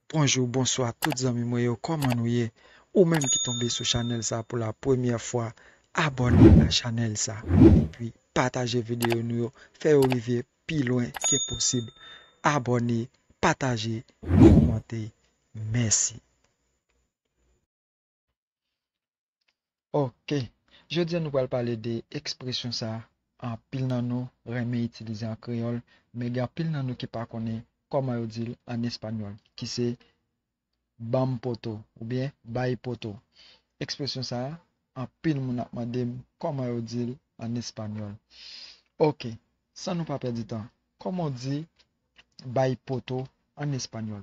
Bonjou bonswa tout zanmi mwen yo kòman nou ye ou menm ki tonbe sou chanèl sa pou la premyè fwa abòne a chanèl sa epi pataje videyo nou yo fè yo rive pi lwen ke posib abòne pataje kòmante mèsi. Ok, jodi a nou pral pale de ekspresyon sa anpil nan nou renmen itilize an kreyòl men gen anpil nan nou ki pa konnen kòman yo di l an espanyòl ki se banm poto oubyen bay poto. Ekspresyon sa anpil moun ap mande m kòman yo di l an espanyòl. Ok, san nou pa pèdi tan, kòman w di bay poto an espanyòl?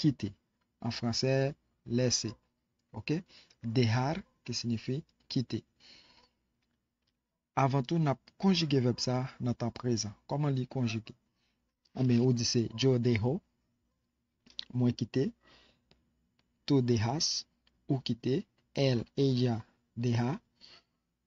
kite, an fransè, laisser, ok, dejar, ki sinifi kite. Avan tou, n ap konjige vèb sa a nan tan prezan. Kòman li konjige? Enben, ou di se yo deho, mwen kite, tu dejas, ou kite, él, ella, deja,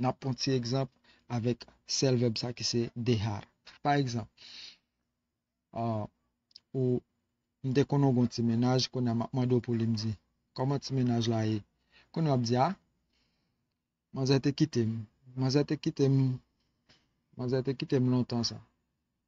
N ap pran ti egzanp avèk sèl vèb sa ki se dehar. Pa egzanp, ou, M te konnen w gen yon ti mennaj, kounye a m ap mande w pou li. M di, Kòman ti mennaj la ye? Kounye a w ap di, A, manzè te kite m. Manzè te kite m, manzè te kite m lontan sa.